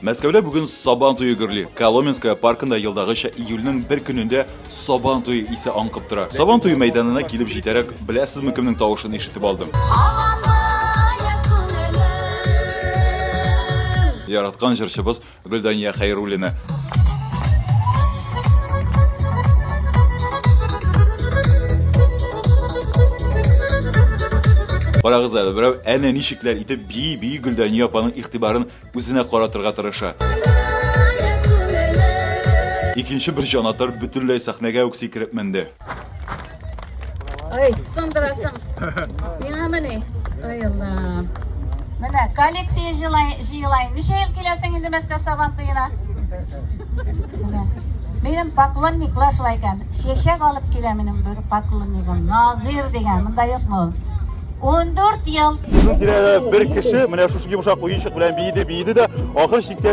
Мәскәүдә бүген Сабан туе гөрли. Коломенская паркында елдагыча июльнең бер көнендә Сабан туе исе аңкып тора. Сабан туе мәйданына килеп җитәрәк, беләсезме кемнең тавышын ишетеп алдым? Яраткан җырчыбыз Гөлдания Хәйруллина. Карагыз әле, берәү әнә ничекләр итеп бии бии Гөлдәния апаның игътибарын үзенә каратырга тырыша. Икенче бер җанатар бөтенләй сәхнәгә үк сикереп менде. Ой, сындырасың. Миңамы ни? Ой, Алла. Менә коллекция җыелайын. Ничә ел киләсең инде Мәскәү сабан туена? Менә. Минем поклонниклар шулай икән. Чәчәк алып килә минем бер поклоннигым. Назир дигән. Монда юкмы ул? 14 ел. Сезнең тирәдә бер кеше менә шушы йомшак уенчык белән биеде, биеде дә, ахыр чиктә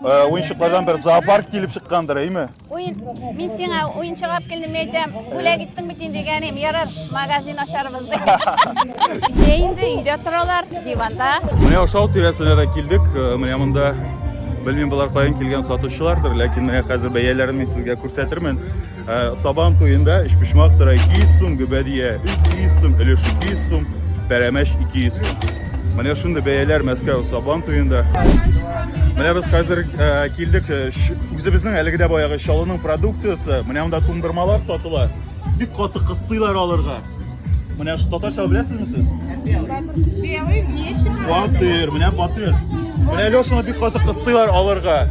Э, уенчыклардан бер зоопарк килеп чыккандыр, әйме? Уен, мин сиңа уенчык алып килдем әйтәм, бүлә киттең бит инде дигәнем, ярар, магазин ашарбыз ди. Сине инде өйдә торалар, диванда. Менә ошау тирәсенә дә килдек. Э, менә монда белмим болар каян килгән сатучылардыр, ләкин менә хәзер бәяләрен мин сезгә күрсәтермен. Ә, Сабан туенда өчпочмак тора 200 сум, гөбәдия 300 сум, өлеш 200 сум, пәрәмәч 200 сум. Менә шундый бәяләр Мәскәү Сабан туенда. Менә без хәзер ә, килдек ә, ш- үзебезнең әлеге дә баягы Чаллының продукциясе. Менә монда туңдырмалар сатыла. Бик каты кыстыйлар алырга. Менә ш- татарча беләсезме сез? Белый, нечего. Батыр, менә батыр. Менә Лешаны бик каты кыстыйлар алырга.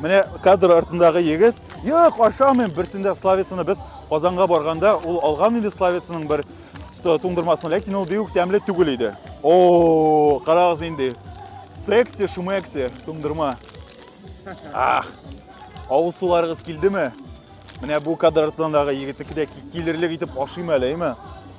Менә кадр артындагы егет, "Юк, ашамыйм". Берсендә славицаны без Казанга барганда ул алган иде славицаның бер туңдырмасын, ләкин ул бик тәмле түгел иде. О, карагыз инде. Секси шумекси туңдырма. Ах. Авыл суларыгыз килдеме? Менә бу кадр артындагы егетеке дә килерлек итеп ашыйм әле, әйме?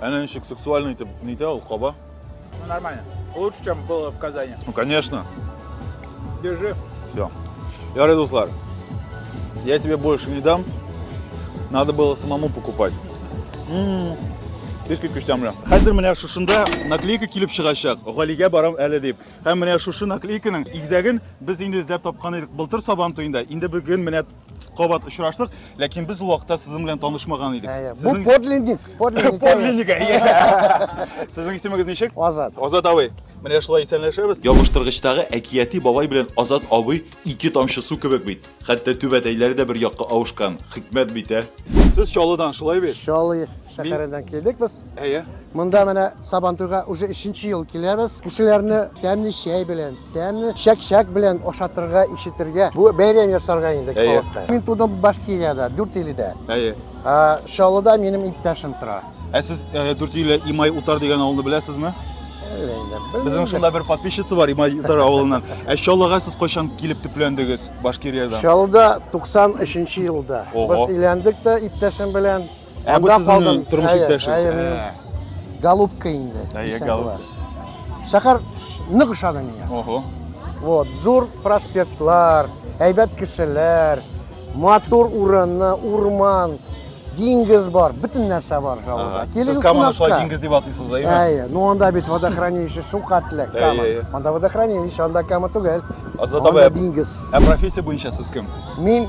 Әнә ничек сексуальный итеп нитә ул каба. Ну, нормально. Лучше, чем было в Казани. Ну, конечно. Держи. Все. Ярый, дуслар, я тебе больше не дам. Надо было самому покупать. М-м-м. Иске көчтәмле. Хәзер менә шушында наклейка килеп чыгачак. Галигә барам әле дип. Һәм менә шушы наклейканың игезәген без инде эзләп тапкан идек былтыр сабан туенда. Инде бүген менә кабат очраштык, ләкин без ул вакытта сезнең белән танышмаган идек. Бу подлинник, подлинник. Подлинник. Сезнең исемегез ничек? Азат. Азат абый. Менә шулай исәнләшәбез. Ябыштыргычтагы әкияти бабай белән Азат абый ике тамчы су кебек бит. Хәтта түбәтәйләре дә бер якка авышкан. Хикмәт бит, ә? Сез Чаллыдан, шулай бит? Чаллы. Шәһәреннән килдек без. Әйе. Монда менә Сабантуйга уже өченче ел киләбез. Кешеләрне тәмле чәй белән, тәмле чәк-чәк белән ашатырга, ишетергә, бу бәйрәм ясарга инде халыкка. Мин тудым Башкириядә, Дүртиледә. Әйе. Чаллыда минем иптәшем тора. Ә сез Дүртиле Имай Утар дигән авылны беләсезме? Безнең шунда бер подписчица бар Имай Утар авылыннан. Ә Чаллыга сез кайчан килеп төпләндегез Башкириядән? Чаллыда 93 елда. Без өйләндек тә иптәшем белән. Ә бу сезнең тормыш иптәшегез. Голубка инде. Әйе, голубка. Шәһәр нык ошады миңа. Ого. Вот, зур проспектлар, әйбәт кешеләр, матур урыны, урман, диңгез бар, бөтен нәрсә бар Галада. Сез Каманы шулай диңгез дип атыйсыз, әйе? Әйе. Ну анда бит водохранилище су катлы, Кама. Анда водохранилище, анда Кама түгел. Азат абый, диңгез. Ә профессия буенча сез кем? Мин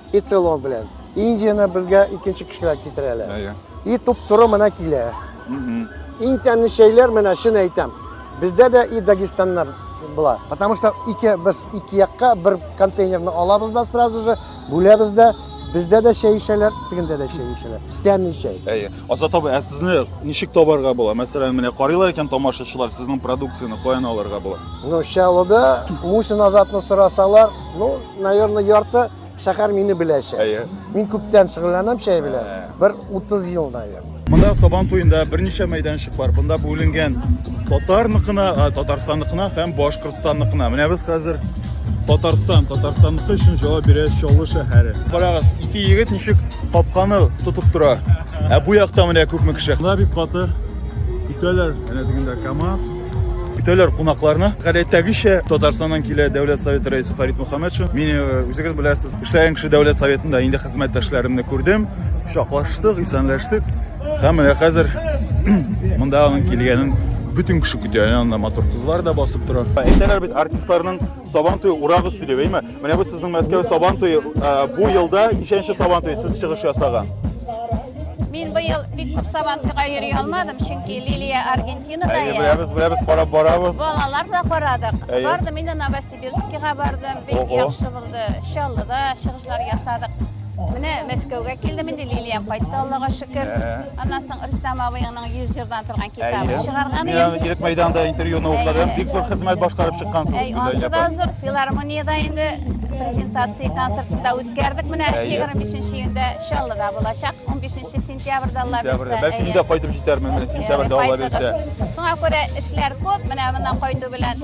и целло белән. Индияне безгә икенче кешеләр китерәләр. Әйе. И туп-туры менә килә. Иң тәмле чәйләр менә чын әйтәм. Бездә дә и Дагестаннар була. Потому что ике без ике якка бер контейнерны алабыз да сразу же бүләбез дә Бездә дә чәй эчәләр, тегендә дә чәй эчәләр. Тәмле чәй. Әйе. Азат абый, ә сезне ничек табарга була? Мәсәлән, менә карыйлар икән тамашачылар, сезнең продукцияне каян алырга була? Ну, Чаллыда Мусин Азатны сорасалар, Ну, наверное, ярты шәһәр мине беләчәк. Әйе. Мин күптән шөгыльләнәм чәй белән. Бер 30 ел, наверное. Монда Сабан туенда берничә мәйданчык бар. Бунда бүленгән татарныкына, а, татарстанныкына һәм башкортстанныкына. Менә без хәзер Татарстан, Татарстанныкы өчен җавап бирә Чаллы шәһәре. Карагыз, ике егет ничек капканы тотып тора. Ә бу якта менә күпме кеше. Монда бик каты. Көтәләр, әнә дигәндә КАМАЗ. Көтәләр кунакларны. Гадәттәгечә Татарстаннан килә Дәүләт Советы рәисе Фарид Мөхәммәтшин. Мин э, үзегез беләсез, эшләгән кеше Дәүләт Советында инде хезмәттәшләремне күрдем, шаклаштык, исәнләштек. Һәм менә хәзер монда аның килгәнен бөтен кеше көтә. Янында матур кызлар да басып тора. Әйтәләр бит артистларның сабан туе урак өсте дип, әйме? Менә бу сезнең Мәскәү сабан туе. Э, бу елда ничәнче сабан туе сез чыгыш ясаган? Мин быел бик күп сабан туйга йөри алмадым, чөнки Лилия Аргентинада. Әйе, беләбез, беләбез, карап барабыз. Балалар да карадык. Бардым инде Новосибирскига бардым. Бик яхшы булды. Чаллыда чыгышлар ясадык. Менә Мәскәүгә килдем инде, Лилиям кайтты, Аллага шөкер. Аннан соң Рөстәм абыеңның 100 җырдан торган китабын чыгарган. Мин аның Ирек мәйданында интервьюны укыдым. Бик зур хезмәт башкарып чыккансыз. Әй, ансы да зур. Филармониядә инде презентация концертында үткәрдек. Менә 25 июньдә Чаллыда булачак. 15 сентябрьдә Алла бирсә. Сентябрьдә. Бәлки мин дә кайтып җитәрмен, сентябрьдә Алла бирсә. Шуңа күрә эшләр күп. Менә моннан кайту белән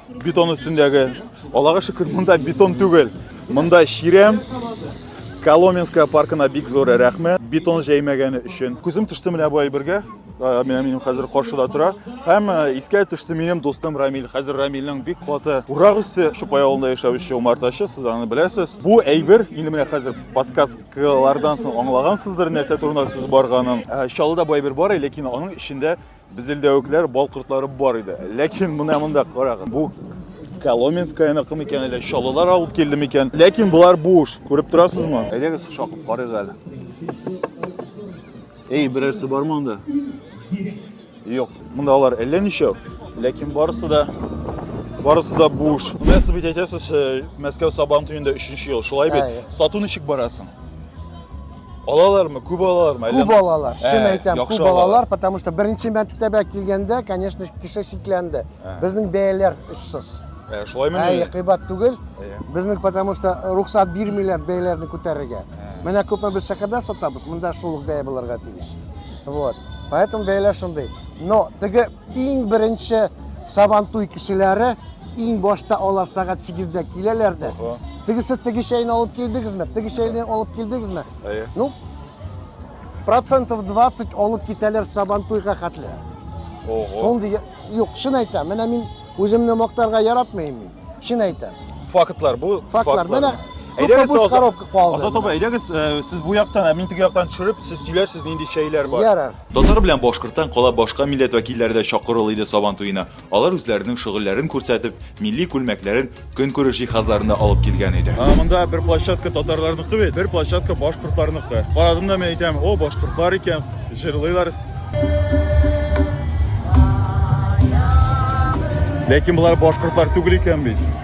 Бетон өстендәге, Аллага шөкер, монда бетон түгел. Монда чирәм. Коломенская паркына бик зур рәхмәт. Бетон җәймәгәне өчен. Күзем төште менә бу әйбергә. Э, менә минем хәзер каршыда тора. Һәм э, искә төште минем дустым Рамил. Хәзер Рамилнең бик каты урак үсте. Чупай авылында яшәүче умартачы, сез аны беләсез. Бу әйбер, инде менә хәзер подсказкалардан соң аңлагансыздыр, нәрсә турында сүз барганын. Э, Чаллыда бу әйбер бар, ләкин аның эчендә Безелдәвекләр, бал кортлары бар иде. Ләкин менә монда карагыз. Бу Коломенскаяныкы микән әллә Чаллылар алып килде микән? Ләкин болар буш. Күреп торасызмы? Әйдәгез шакып карыйк әле. Эй, берәрсе бар монда? Юк. Монда алар әллә ничәү. Ләкин барысы да барысы да буш. Менә сез бит әйтәсез, э, Мәскәү Сабан төендә 3 ел. Шулай бит? Сату ничек барасың? Алалармы, күп алалармы? Әллә... Күп алалар, ә, чын әйтәм, күп алалар, потому что беренче мәртәбә килгәндә, конечно, кеше шикләнде. Ә. Безнең бәяләр очсыз. Ә, шулаймы? Ә, кыйбат түгел. Безнең потому что рухсат бирмиләр бәяләрне күтәрергә. Менә күпме без шәһәрдә сатабыз, монда шул ук бәя булырга тиеш. Вот. Поэтому бәяләр шундый. Но теге Иң беренче Сабантуй кешеләре иң башта алар сәгать 8-дә киләләр дә. Тегесе теге чәйне алып килдегезме? Теге чәйне алып килдегезме? Әйе. Ну, процентов 20 алып китәләр Сабантуйга хәтле. Ого. Шундый юк, чын әйтәм. Менә мин үземне мактарга яратмыйм мин. Чын әйтәм. Фактлар бу. Фактлар. Менә Әйдәгез, Азат- коробка калды. Азат абай, әйдәгез, э, сез бу яктан, ә мин теге яктан төшереп, сез сөйләрсез, нинди чәйләр бар. Ярар. Татар белән башкорттан кала башка милләт вәкилләре дә чакырыл иде Сабан туена. Алар үзләренең шөгыльләрен күрсәтеп, милли күлмәкләрен, көнкүреш җиһазларын да алып килгән иде. А монда бер площадка татарларныкы бит, бер площадка башкортларныкы. Карадым да мин әйтәм, о, башкортлар икән, җырлыйлар. Ләкин болар башкортлар түгел икән бит.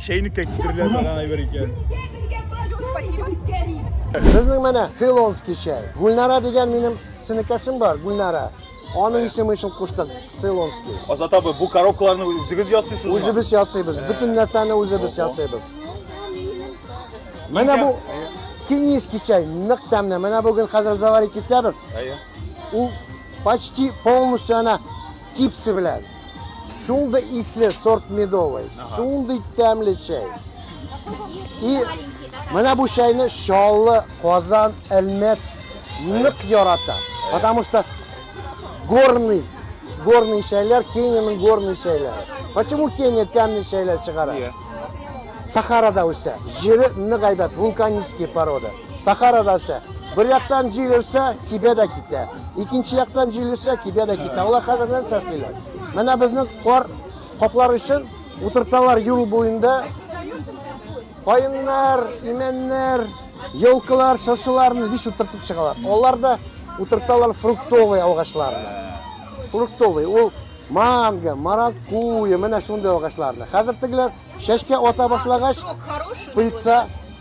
Чәйнеккә китерелә торган әйбер икән. Безнең менә Цейлонский чәй. Гүлнара дигән минем сенекәшем бар, Гүлнара. Аның исеме өчен куштык, Цейлонский. Азат абый, бу коробкаларны үзегез ясыйсызмы? Үзебез ясыйбыз, бөтен нәрсәне үзебез ясыйбыз. Менә бу кенийский чәй, нык тәмле. Менә бүген хәзер заварить итәбез. Ул почти полностью ана Чипсы белән. Шундый исле сорт медовый. Шундый тәмле чәй. И менә бу чәйне Чаллы, Казан, Әлмәт нык ярата. Потому что горный, горный чәйләр, Кениянең горный чәйләре. Почему Кения тәмле чәйләр чыгара? Сахарада үсә. Җире нык әйбәт, вулканический порода. Сахара дәүсә. Бер яктан җил өрсә, кибә дә китә. Икенче яктан җил өрсә, кибә дә китә. Алар хәзер нәрсә эшлиләр? Менә безнең кар каплар өчен утырталар юл буенда каеннар, имәннәр, елкалар, шыршыларны биш утыртып чыгалар. Алар да утырталар фруктовый агачларны. Фруктовый ул манго, маракуйя, менә шундый агачларны. Хәзер тегеләр чәчкә ата башлагач, пыльца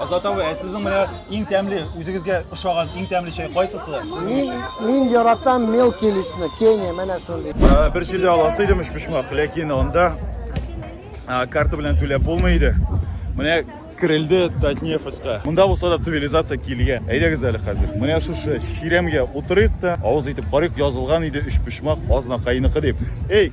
Азат абый, ә сезнең менә иң тәмле, үзегезгә ошаган иң тәмле чәй кайсысы? Мин, мин яратам мелкий лишне, Кения, менә шундый. Ә, бер җирдә аласы идем өчпочмак, ләкин анда ә, карта белән түләп булмый иде. Менә керелде Татнефеска. Монда булса да цивилизация килгән. Әйдәгез әле хәзер. Менә шушы чиремгә утырыйк та, авыз итеп карыйк, язылган иде өчпочмак азнакайныкы дип. Эй,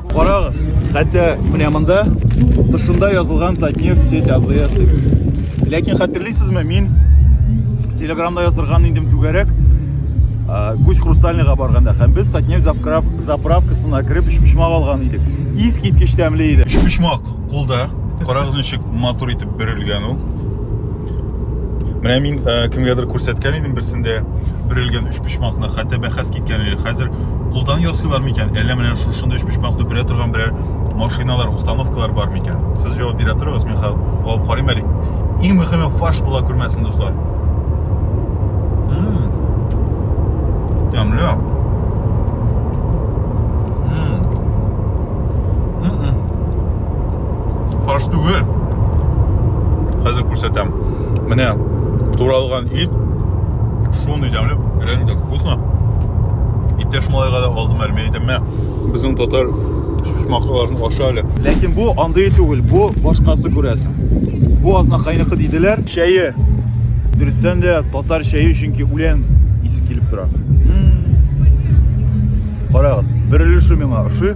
Карагыз, хәтта менә монда тышында язылган Татнефть сеть АЗС дип. Ләкин хәтерлисезме, мин Телеграмда яздырган идем түгәрәк Гусь Хрустальныйга барганда һәм без Татнефть заправкасына кереп өчпочмак алган идек. Ис киткеч тәмле иде. Өчпочмак кулда. Карагыз ничек матур итеп бирелгән ул. Менә мин ә, э, кемгәдер күрсәткән идем берсендә бөрелгән өч почмакны, хәтта бәхәс киткән иде. Хәзер кулдан ясыйлар микән? Әллә менә шушында өч почмакны бирә торган берәр машиналар, установкалар бар микән? Сез җавап бирә торыгыз, мин калып карыйм әле. Иң мөһиме фаш була күрмәсен, дуслар. Тәмле. фарш түгел хәзер күрсәтәм менә туралган ит шундый дәмле реально так вкусно иптәш малайга да алдым әле мен әйтәм мә безнең татар шушмакларын аша әле ләкин бу андый түгел бу башкасы күрәсең бу азнакайныкы диделәр чәе дөрестән дә татар чәе чөнки үлән исе килеп тора карагыз бер өлеше миңа ошый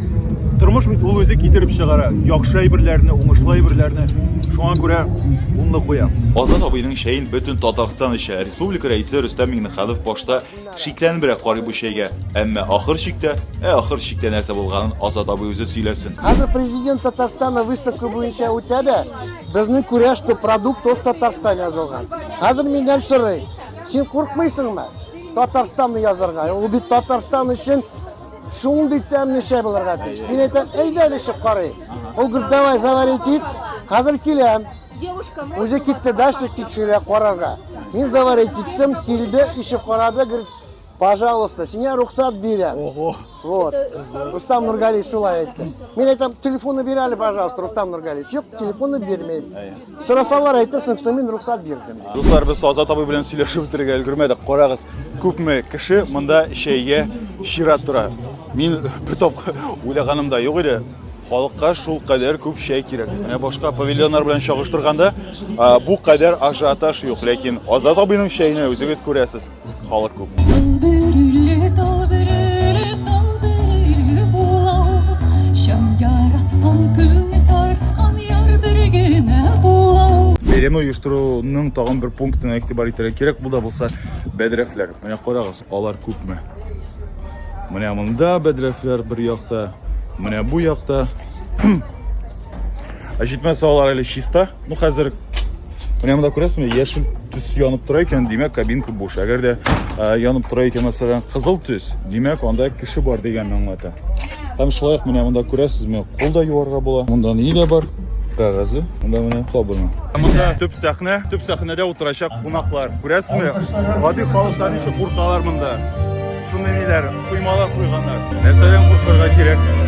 Тормыш бит ул үзе китереп чыгара. Яхшы әйберләрне, уңышлы әйберләрне шуңа күрә унны куям. Азат абыйның чәен бөтен Татарстан эчә. Республика рәисе Рөстәм Миңнеханов башта шикләнебрәк карый бу чәйгә. Әмма ахыр чиктә, ә ахыр чиктә нәрсә булганын Азат абый үзе сөйләсен. Хәзер президент Татарстана выставка буенча үтә дә, безнең күрә, что продукт оф Татарстан язылган. Хәзер миннән сорый, син куркмыйсыңмы Татарстанны язарга? Ул бит Татарстан өчен Шундый тәмле чәй булырга тиеш. Мин әйтәм, әйдә әле чык карый. Ул гөр давай завари тик, хәзер киләм. Үзе китте дача тикшерә карарга. Мин завари киттем, килде, ишек карады, гөр Пожалуйста, сиңа рөхсәт бирәм. Ого. Вот. Рустам Нургалиев шулай әйтте. Мин әйтәм, телефоны бир әле, пожалуйста, Рустам Нургалиев. Юк, телефоны бирмәйм. Сорасалар әйтерсең, что мин рөхсәт бирдем. Дуслар, без Азат абый белән сөйләшеп үтергә өлгермәдек. Карагыз, күпме кеше монда чәйгә чират тора. Мин бер тапкыр уйлаганым да юк иде. Халыкка шул кадәр күп чәй кирәк. Менә башка павильоннар белән чагыштырганда, бу кадәр ажиотаж юк, ләкин Азат абыйның чәенә үзегез күрәсез. Халык күп. Бәйрәмне оештыруның тагын бер пунктына игътибар итәргә кирәк. Бу да булса бәдрәфләр. Менә карагыз, алар күпме? Менә монда бәдрәфләр бер якта, менә бу якта. Ә җитмәсә алар әле чиста. Бу хәзер Менә монда күрәсезме, яшел төс янып тора икән, димәк, кабинка буш. Әгәр дә янып тора икән, мәсәлән, кызыл төс, димәк, анда кеше бар дигәнне аңлата. Һәм шулай ук менә монда күрәсезме, кул да юарга була. Монда ни дә бар? Кәгазе. Монда менә сабыны. Монда төп сәхнә, төп сәхнәдә утырачак кунаклар. Күрәсезме? Гади халыктан ничек куркалар монда. Шундый ниләр, коймалар куйганнар. Нәрсәдән куркырга кирәк?